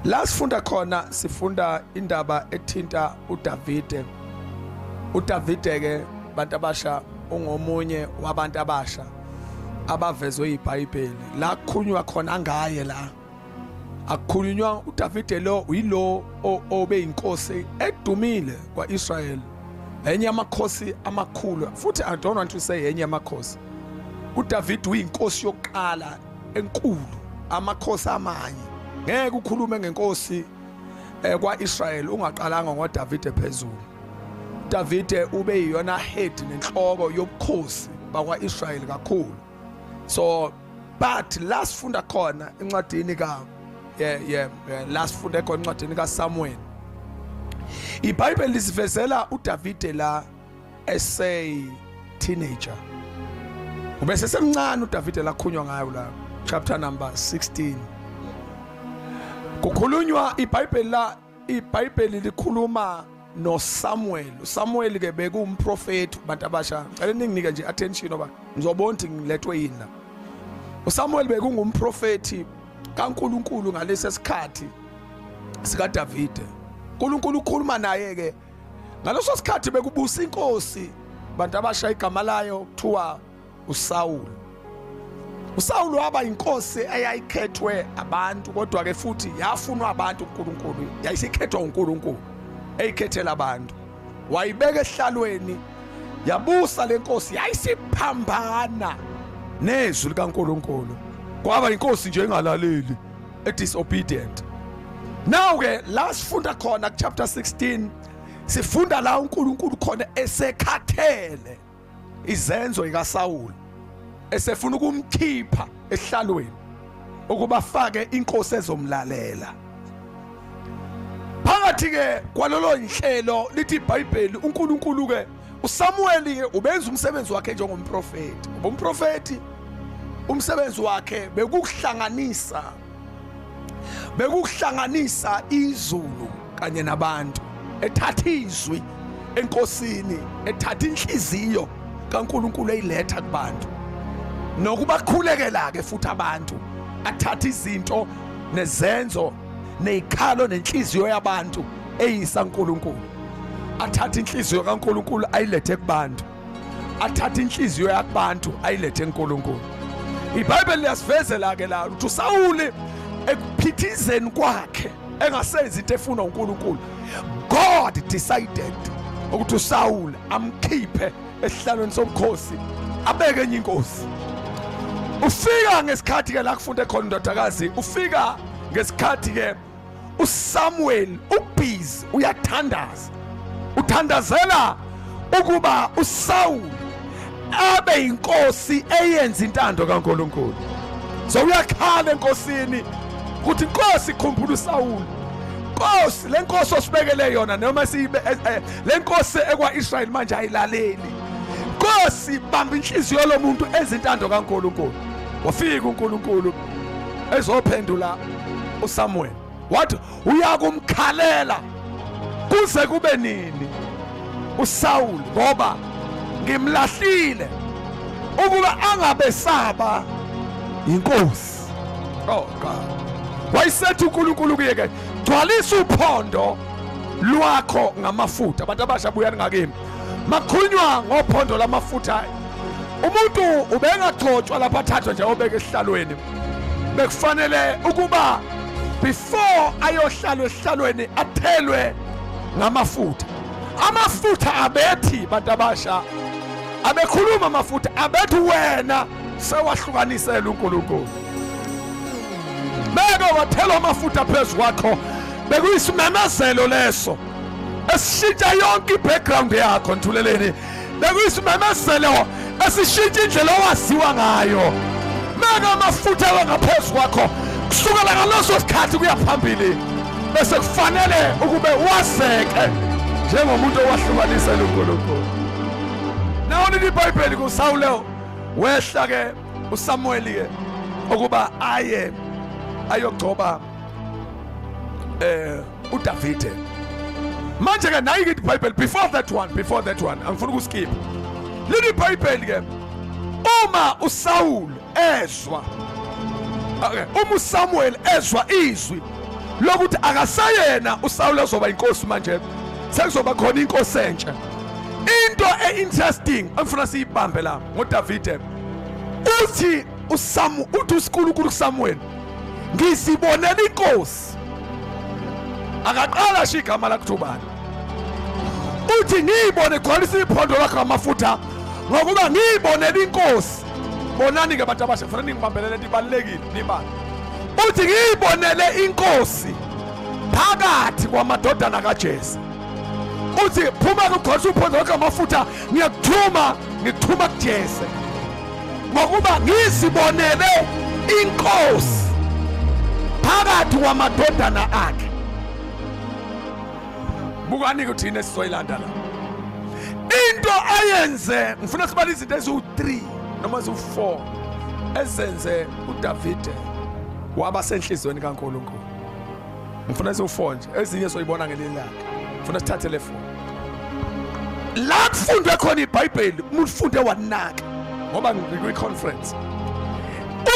La sifunda khona sifunda indaba ethinta uDavide. UDavide ke bantu abasha ungomunye wabantu abasha abavezwe iBhayibheli. La kukhulunywa khona ngaye la. Akukhulunywa uDavide lo uyilo obe inkosi edumile kwaIsrael. Enye yamakhosi amakhulu futhi I don't want to say enye yamakhosi. UDavide uyinkosi yokuqala enkulu amakhosi amanye ngeke ukhulume ngenkosi eh, kwa-israyeli ungaqalanga ngodavide phezulu davide ube yiyona head nenhloko yobukhosi bakwa-israyeli kakhulu so but la sifunda khona encwadini ka yeah, yeah, yeah, la sifunde khona encwadini kasamuweli ibhayibheli lisivezela udavide la esay teenager ubese semncane uDavide lakhunywa ngayo la chapter number 16 kukhulunywa iBhayibheli la iBhayibheli likhuluma no Samuel uSamuel ke bekumprofeti bantu abasha ngicela ninginike nje attention oba ngizobona ukuthi ngilethwe yini la uSamuel bekungumprofeti kaNkuluNkulu ngalesi sikhathi sika Davide uNkulunkulu ukhuluma naye ke ngaleso sikhathi bekubusa inkosi bantu abasha igama layo kuthiwa usawulu usawulu waba inkosi eyayikhethwe abantu kodwa-ke futhi yafunwa abantu unkulunkulu yayisikhethwa unkulunkulu eyikhethela abantu wayibeka esihlalweni yabusa le nkosi yayisiphambana nezwi likankulunkulu kwaba inkosi nje engalaleli a disobedient now ke la sifunda khona ku chapter 16 sifunda la uNkulunkulu khona esekhathele izenzo ikaSawulu esefuna ukumkhipha ehlalweni ukuba fake inkosi ezomlalela phakathi ke kwalolo nhlelo lithi iBhayibheli uNkulunkulu ke usamuweli-ke ubenza umsebenzi wakhe njengomprofethi ngoba umprofethi umsebenzi wakhe bekukuhlanganisa bekukuhlanganisa izulu kanye nabantu ethatha izwi enkosini ethatha inhliziyo kaNkuluNkulu eyiletha kubantu nokubakhulekela ke futhi abantu athatha izinto nezenzo nezikhalo nenhliziyo yabantu eyisa uNkulunkulu athatha inhliziyo kaNkulunkulu ayilethe kubantu athatha inhliziyo yakubantu ayilethe eNkulunkulu iBhayibheli liyasivezela ke la ukuthi uSawuli ekuphithizeni kwakhe engasenzi into efunwa uNkulunkulu God decided ukuthi uSawuli amkhiphe esihlalweni sobukhosi abeke enye inkosi ufika ngesikhathi ke la kufunde khona indodakazi ufika ngesikhathi ke uSamuel ubhizi uyathandaza uthandazela ukuba uSaul abe inkosi eyenza intando kaNkuluNkulu so uyakhala enkosini ukuthi inkosi ikhumbula uSaul inkosi lenkosi osibekele yona noma siyibe eh, eh, le nkosi ekwa-israyeli manje ayilaleli nkosi bamba inhliziyo lo muntu enza intando kankulunkulu wafika unkulunkulu ezophendula usamuweli wathi uyakumkhalela kuze kube nini usawuli ngoba ngimlahlile ukuba angabesaba yinkosi oh god wayisethi uNkulunkulu kuye ke gcwalisa uphondo lwakho ngamafutha abantu abasha buyani ngakimi makhunywa ngophondo lamafutha umuntu ubengagcotshwa lapha athathwe nje obeke esihlalweni bekufanele ukuba before ayohlalwa esihlalweni athelwe ngamafutha amafutha abethi bantu abasha abekhuluma amafutha abethi wena sewahlukanisela uNkulunkulu beke wathela amafutha phezu kwakho bekuyisimemezelo leso esishintsha yonke i-background yakho nthuleleni bekuyisimemezelo esishintsha indlela owaziwa ngayo meke amafutha ewe ngaphezu kwakho kusukela ngaleso sikhathi kuya phambili bese kufanele ukube waseke njengomuntu owahlukanisela unkulunkulu nawonini ibhayibheli kusawulewo wehla ke uSamuweli ke ukuba aye ayogcoba eh uDavide manje ke nayi ke iBhayibheli before that one before that one angifuni ukuskip leli iBhayibheli ke uma uSaul ezwa okay uma uSamuel ezwa izwi lokuthi akasayena uSaul azoba inkosi manje sekuzoba khona inkosi entsha into e-interesting engifuna siyibambe la ngodavide uthi usamu uthi usikulunkulu kusamuweli ngizibonela inkosi akaqala sho igama lakutho ubani uthi ngiyibone gcwalisa iphondo lakho ngamafutha ngokuba ngiyibonela inkosi bonani-ke abantu abasha kufanele ningibambelele nto ibalulekile nibani uthi ngiyibonele inkosi phakathi kwamadodana kajesu uthi phuma kugosa uphondo lonke amafutha ngiyakuthuma ngikuthuma kujese ngokuba ngizibonele inkosi phakathi kwamadodana akhe bukani-ke ukuthi yini esizoyilanda la into ayenze ngifuna sibale izinto eziwu-3 noma ziwu-4 ezenze udavide waba senhliziyweni kankulunkulu ngifuna siwufone nje ezinye soyibona ngelinye ilanga ngifuna sithathe le foni la kufundwe khona ibhayibheli umuntu ufunde wanaka ngoba ngikwi-conference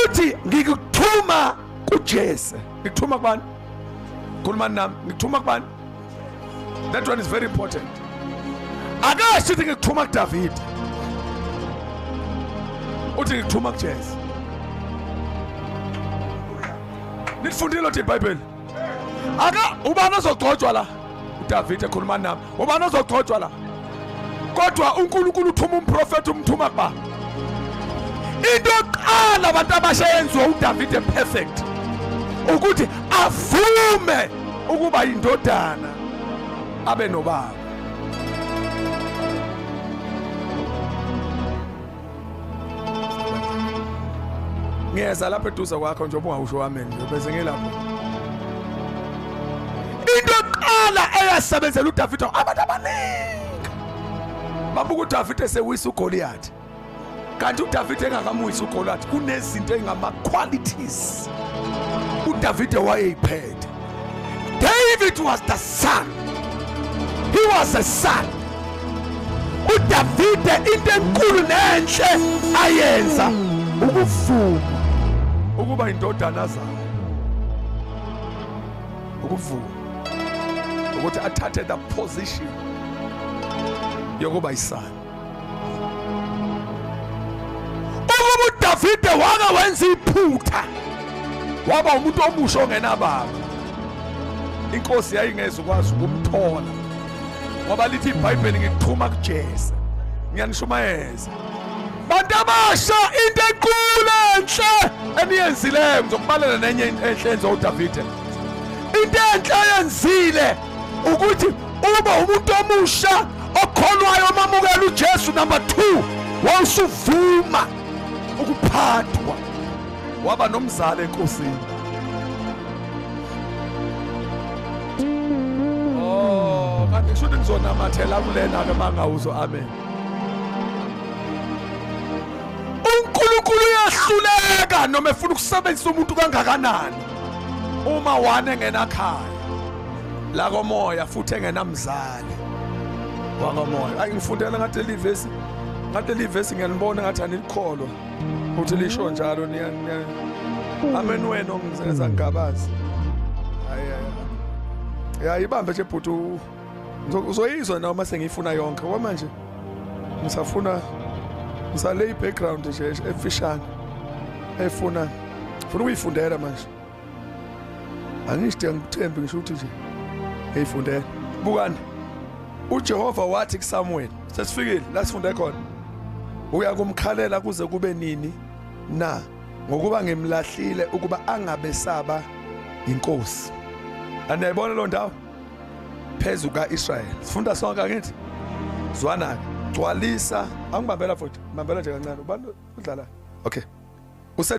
uthi ngikuthuma kujese ngikuthuma kubani khulumani nami ngikuthuma kubani that one is very important akasho ukuthi ngikuthuma kudavid uthi ngikuthuma kujesu nilifundile lotho ibhayibheli aka ubani ozogcotshwa la udavid ekhuluma nami ubani ozogcotshwa la kodwa uNkulunkulu uthuma umprofeti umthuma kuba into yokuqala abantu abasha yenziwa uDavid perfect ukuthi avume ukuba indodana abe nobaba ngiyeza lapha eduze kwakho njengoba ungawusho wami nje bese ngilapho into eqala eyasebenzela uDavid abantu abaningi babuka uDavid esewisa uGoliath kanti uDavid engakamuyisa uGoliath kunezinto engama qualities uDavid wayeyiphethe David was the son. He was a son. uDavide into enkulu nenhle ayenza ukuvuma ukuba indodana zayo ukuvuma ukuthi athathe the position yokuba isana Uma uDavide wake wenza iphutha waba umuntu omusha ongenababa. Inkosi yayingeze ukwazi ukumthola ngoba lithi iBhayibheli ngikuxhuma kuJesu. Ngiyanishumayeza. Bantu abasha into enkulu enhle eniyenzileyo ngizokubalela nenye enhle enze uDavide. Into enhle yenzile ukuthi uba umuntu omusha okholwayo omamukela uJesu number 2 wawusuvuma ukuphathwa waba nomzali enkosini oh kanti kusho ukuthi ngizonamathela kulena ke mangawuzo amen uNkulunkulu uyahluleka noma efuna ukusebenzisa umuntu kangakanani uma wane ngenakhaya la komoya futhi engenamzali wakamoya ayi ngifundela ngathi leli vesi ngathi leli vesi ngiyanibona ngathi anikholwa ukuthi lisho njalo niya amen wena ongizenza ngabazi hayi hayi ya ibambe nje bhuti uzoyizwa nawe uma sengiyifuna yonke ngoba manje ngisafuna ngisale i-background nje efishane efuna funa ukuyifundela manje angisho ngikuthembe ngisho ukuthi nje hey fundela bukani uJehova wathi kuSamuel sesifikile la sifunde khona uya kumkhalela kuze kube nini na ngokuba ngimlahlile ukuba angabesaba inkosi aniyayibona lo ndawo phezu ka-israyeli sifunda sonke angithi zwana-ke gcwalisa angibambela futhi ngibambela nje kancane ubani udlalayo okay